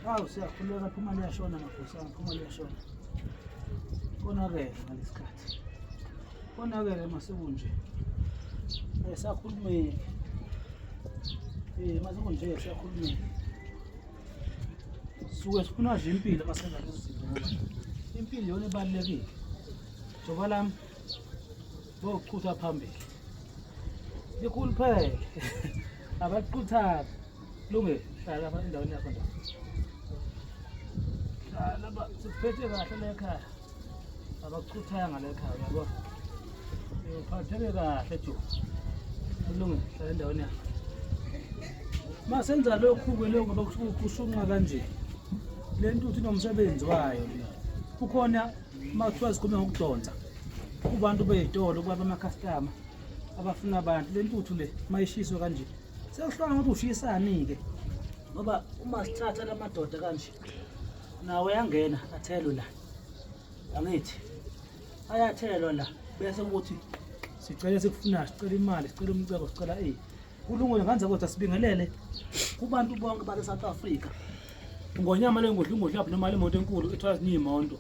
Hawu siyakhuleka phuma liyashona magosa, phuma liyashona. Konakele ngalesikhathi. Konakele masekunje. Eh sakhulumeki. Eh masekunje siyakhulumeki. Suke sifuna nje impilo masenza lezi zinto. Impilo yona ibalekile. Joba lami bokuchutha phambili likhulu phele abaquthaphi lunge hlala apha endaweni yakho nda hlala ba sikuphethe kahle lekhaya abakuchuthanga lekhaya uyabo uphatheke kahle jo kulunge hlala endaweni yakho ma senza lokhu-ke lokhu bakushunqa kanje le ntuthu inomsebenzi wayo kukhona uma kuthiwa zikhulume ngokudonsa kubantu bey'tolo kuba bamakhastama abafuna abantu le ntuthu le uma ishiswe kanje sekuhlukana ukuthi ushisani-ke ngoba uma sithatha la madoda kanje nawo yangena athelwe la angithi ayathelwa la bese ukuthi sicela sikufunayo sicela imali sicela umcebo sicela eyi kulungile ngandze kodwa sibingelele kubantu bonke base South Africa ngonyama lengodla ingodla lapho noma imoto enkulu ethwala ziningi imonto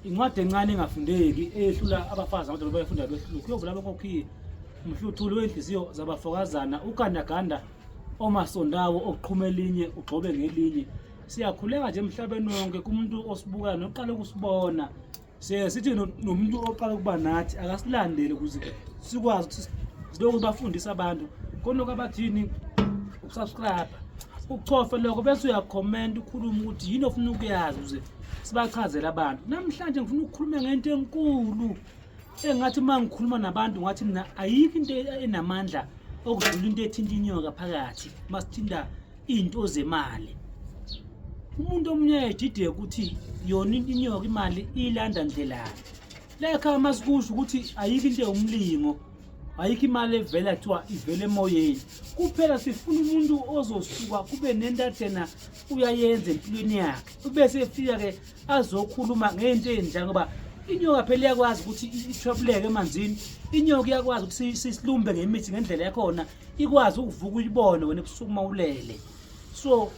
incwadi encane engafundeki eyehlula abafazi amadoda bayafunda behlulu kuyovula abakokhiye umhluthuli wey'nhliziyo zabafokazana ugandaganda omasondawo okuqhuma elinye ugxobe ngelinye siyakhuleka nje emhlabeni wonke kumuntu osibukayo noqala ukusibona siye sithi no- nomuntu oqala ukuba nathi akasilandele ukuze sikwazi ukuthi silokhu bafundisa abantu konoko abathini ukusubscribe uchofe lokho bese uyakhomenta ukhulume ukuthi yini ofuna ukuyazi ukuze sibachazele abantu namhlanje ngifuna ukukhuluma ngento enkulu engathi uma ngikhuluma nabantu ngathi mina ayikho into enamandla okudlula into ethinta inyoka phakathi uma sithinta izinto zemali umuntu omunye edide ukuthi yona inyoka imali ilanda ndlelani lekha uma sikusho ukuthi ayikho into ewumlingo ayikho imali evela kuthiwa ivele emoyeni kuphela sifuna umuntu ozosuka kube nento athena uyayenza empilweni yakhe ubese efika-ke azokhuluma ngento enjani ngoba inyoka phela iyakwazi ukuthi ithwebuleke emanzini inyoka iyakwazi ukuthi sisilumbe ngemithi ngendlela yakhona ikwazi ukuvuka uyibone wena ebusuku uma ulele so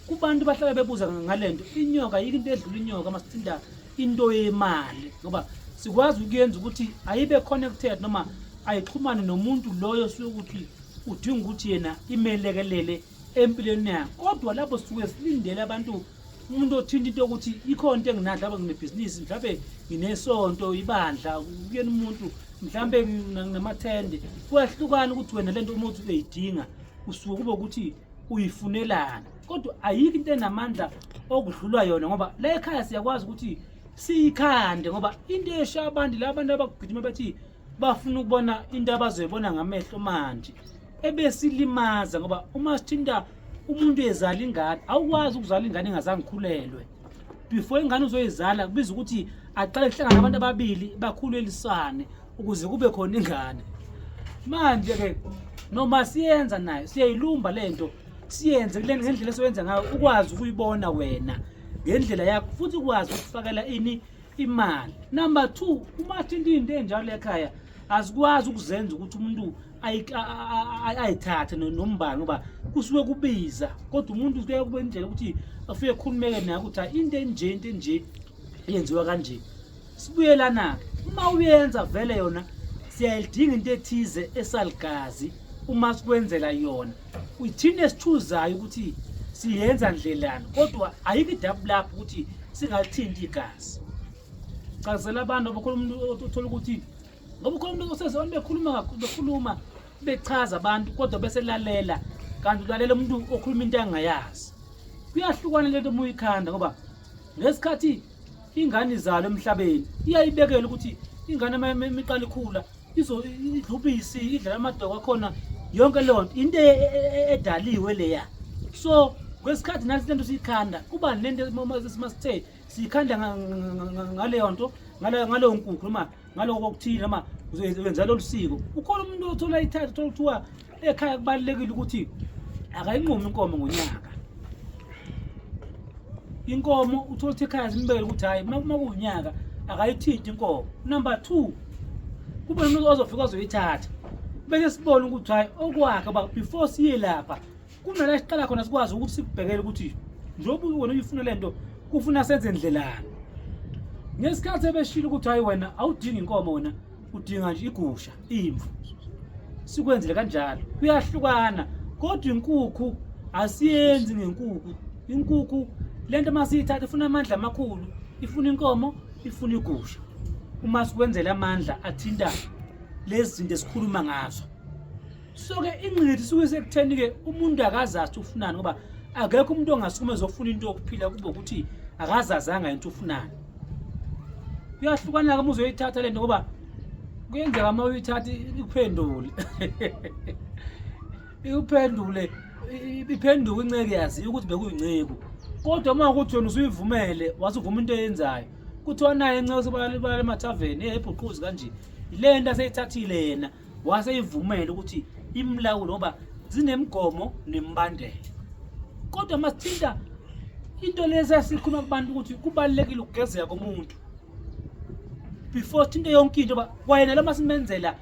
kubantu bahlala bebuza ngale nto inyoka yike into edlula inyoka uma sithinta into yemali ngoba sikwazi ukuyenza ukuthi ayibe connected noma ayixhumane nomuntu loyo suke ukuthi udinga ukuthi yena imelekelele empilweni yakhe kodwa lapho sisuke silindele abantu umuntu othinta into yokuthi ikhona into enginakho mhlawumbe nginebhizinisi mhlawumbe nginesonto ibandla kuyena umuntu mhlawumbe nginamathende kuyahlukana ukuthi wena le nto uma uthi uyayidinga usuke kube ukuthi uyifunelana kodwa ayikho into enamandla okudlulwa yona ngoba la ekhaya siyakwazi ukuthi siyikhande ngoba into esha abantu la abantu abagijima bathi bafuna ukubona into abazoyibona ngamehlo manje ebesilimaza ngoba uma sithinta umuntu ezala ingane awukwazi ukuzala ingane engazange ikhulelwe before ingane uzoyizala kubiza ukuthi aqale kuhlangana abantu ababili bakhulelisane ukuze kube khona ingane manje ke noma siyenza nayo siyayilumba lento siyenze kule ngendlela esiwenza ngayo ukwazi ukuyibona wena ngendlela yakho futhi ukwazi ukufakela ini imali number 2 uma athinta into enjalo ekhaya asikwazi ukuzenza ukuthi umuntu ayithathe nombani ngoba kusuke kubiza kodwa umuntu kuye kube indlela ukuthi afike khulumeke naye ukuthi into enje into enje yenziwa kanje sibuyelana-ke uma uyenza vele yona siyayidinga into ethize esaligazi uma sikwenzela yona Uyithini esithuzayo ukuthi siyenza ndlelani kodwa ayikho idabu lapho ukuthi singathinti igazi. Chazela abantu abakhuluma umuntu othola ukuthi ngoba ukhona umuntu oseze abantu bekhuluma bekhuluma bechaza abantu kodwa bese lalela kanti ulalela umuntu okhuluma into angayazi. Kuyahlukana lento uma uyikhanda ngoba ngesikhathi ingane izalo emhlabeni iyayibekela ukuthi ingane imiqala ikhula idlubisi idlala amadoko akhona yonke leyo nto into e, e, e, edaliwe leya so kwesikhathi nathi lento siyikhanda kuba nento masithe siyikhanda ngaleyo nto ngaleyo nkukhu noma ngaloko okuthile noma wenza lolu siko ukhona umuntu othola ithatha othola kuthiwa ekhaya kubalulekile ukuthi akayinqumi inkomo ngonyaka inkomo uthole ukuthi ekhaya zimbekele ukuthi hhayi uma kuwunyaka akayithinti inkomo number two kube nomuntu ozofika ozoyithatha bese sibone ukuthi hhayi okwakhe uba before siye lapha kunala siqala khona sikwazi ukuthi sikubhekele ukuthi njengoba wena uyifuna le nto kufuna senze ndlelani ngesikhathi ebeshilo ukuthi hhayi wena awudingi inkomo wena udinga nje igusha imvu sikwenzile kanjalo kuyahlukana kodwa inkukhu asiyenzi ngenkukhu inkukhu lento masiyithatha ifuna amandla amakhulu ifuna inkomo ifuna igusha uma sikwenzela amandla athinta lezi zinto esikhuluma ngazo so-ke ingqithi suke sekutheni-ke umuntu akazazi ufunani ngoba akekho umuntu ongasukuma ezofuna into yokuphila kube ukuthi akazazanga into ufunani kuyahlukana ke muze uyithatha lento ngoba kuyenzeka uma uyithatha ikuphendule ikuphendule iphenduka inceke yazi ukuthi bekuyinceku kodwa uma ukuthi wena usuyivumele wasuvuma into eyenzayo kuthiwa naye inceku sebalale emathaveni ehebhuquzi kanje yile nto aseyithathile yena wase ivumela ukuthi imlawulo ngoba zinemigomo nembandela kodwa masithinta into lezi esikhuluma kubantu ukuthi kubalulekile ukugezeka komuntu before sithinte yonke into ba kwayena lama simenzela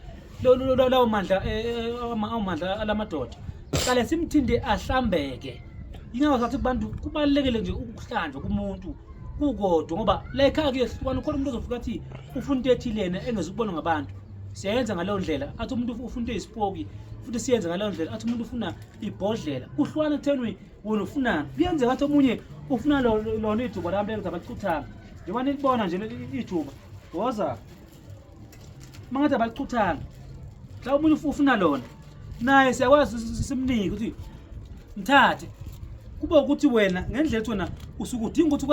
lawo mandla eh, eh, eh, amandla alamadoda qale simthinde ahlambeke ingakho sathi kubantu kubalulekile nje ukuhlanjwa kumuntu kukodwa ngoba la ekhaya kuyehlukana khona umuntu ozofika athi ufuna into ethilena engezukubonwa ngabantu siyayenza ngaleyo ndlela athi umuntu ufuna into eyisipoki futhi siyenze ngaleyo ndlela athi umuntu ufuna ibhodlela kuhlukana ekuthenini wena ufunani kuyenzeka athi omunye ufuna lona ithuba lami lelo abachuthanga njengoba nilibona nje ithuba woza uma ngathi abachuthanga mhlawumbe omunye ufuna lona naye siyakwazi simnike ukuthi mthathe kube ukuthi wena ngendlela ethi wena usuke udinga ukuthi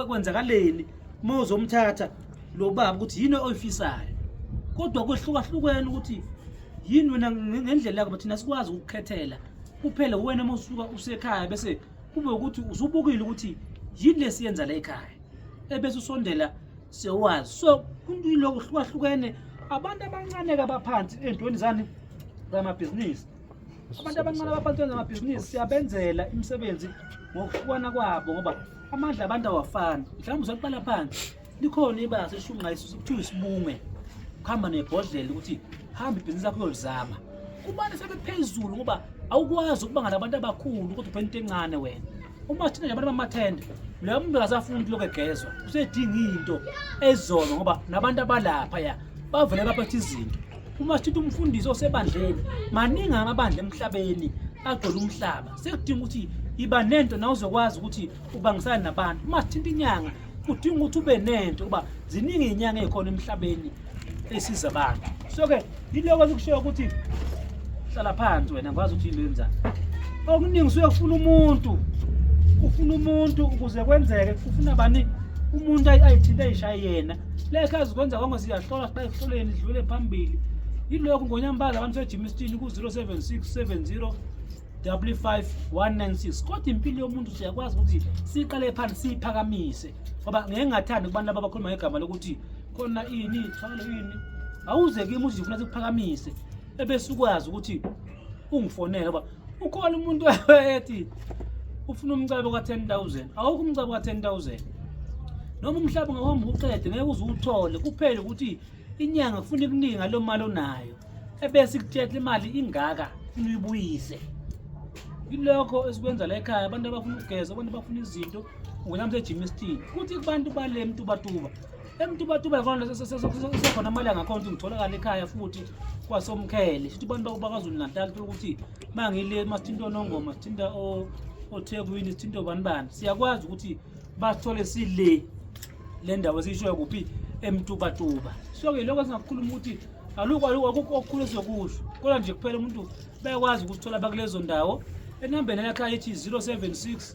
kwenzakaleni uma uzomthatha lo baba ukuthi yini oyifisayo kodwa kwehlukahlukene ukuthi yini wena ngendlela yakho thina sikwazi ukukhethela kuphela wena uma usuka usekhaya bese kube ukuthi usubukile ukuthi yini lesiyenza la ekhaya ebese usondela sewazi so kuniloko hlukahlukene abantu abancane kabaphansi entweni zani zamabhizinisi abantu abancane abaphansi zamabhizinisi siyabenzela imisebenzi ngokuhlukana kwabo ngoba amandla abantu awafani mhlawumbe usaqala phansi likhona ibanga seshunqa isusu kuthiwa isibunge kuhamba nebhodlela ukuthi hamba ibhizinisi lakho uyolizama kubani sebephezulu ngoba awukwazi ukuba ngalabantu abakhulu kodwa uphela into encane wena uma thina nje abantu bamathende loya muntu akasafuni ukuthi lokhu egezwa usedinga into ezolo ngoba nabantu abalapha ya bavele baphetha izinto uma sithuthi umfundisi osebandleni maningi amabandla emhlabeni agcwele umhlaba sekudinga ukuthi iba nento nawe uzokwazi ukuthi ubangisana nabantu uma sithinta inyanga kudinga ukuthi ube nento uba ziningi iy'nyanga ey'khona emhlabeni esiza abantu so-ke yiloko sikushoyo ukuthi hlala phansi wena ngikwazi ukuthi yinto yenzani okuningi usuke kufuna umuntu ufuna umuntu ukuze kwenzeke ufuna bani umuntu ayithinte ayishaye yena leka azikwenza konke siyahlola siqale kuhloleni sidlule phambili yilokhu ngonyambaza abantu sejimisitini ku-076 70 55196 kodwa impilo yomuntu siyakwazi ukuthi siqale phansi siyiphakamise ngoba ngeke ngathandi kubantu laba abakhuluma ngegama lokuthi khona ini thwalo ini awuze kimi uthi ngifuna sikuphakamise ebese ukwazi ukuthi ungifonele ngoba ukhona umuntu ethi ufuna umcebo ka-10000 awukho umcebo ka-10000 noma umhlaba ungahomba uqede ngeke uze uwuthole kuphele ukuthi inyanga kufuna ikuningi ngalo mali onayo ebese ikutshela imali ingaka funa uyibuyise yilokho esikwenza la ekhaya abantu abafuna ukugeza abantu abafuna izinto ungena msejimistini kuthi kubantu bale mtubatuba emtubatuba khona sekhona amalanga khona ukuthi ngitholakala ekhaya futhi kwasomkhele futhi abantu bakwaZulu Natal thola ukuthi mangile masithinta onongoma sithinta othekwini sithinta obani bani siyakwazi ukuthi basithole sile le ndawo esiyishoyo kuphi emtubatuba so-ke lokho singakukhuluma ukuthi alukho alukho akukho okukhulu esizokusho kodwa nje kuphela umuntu bayakwazi ukuthola bakulezo ndawo enambeni lakhe ayithi 076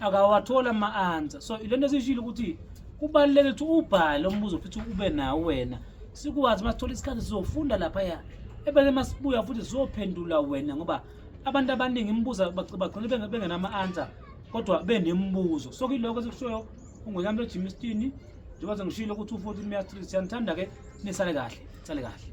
akawathola ama-answer so ile nto esiyishile ukuthi kubaluleke ukuthi ubhale umbuzo futhi ube nawo wena sikwazi uma sithola isikhathi sizofunda laphaya ebese uma sibuya futhi sizophendula wena ngoba abantu abaningi imibuzo bagcine bengenama-answer kodwa benemibuzo so kilokho esikushoyo ungwekamntu ejimistini njengoba sengishilo ukuthi u-fourteen mastri siyanithanda-ke nisale kahle sale kahle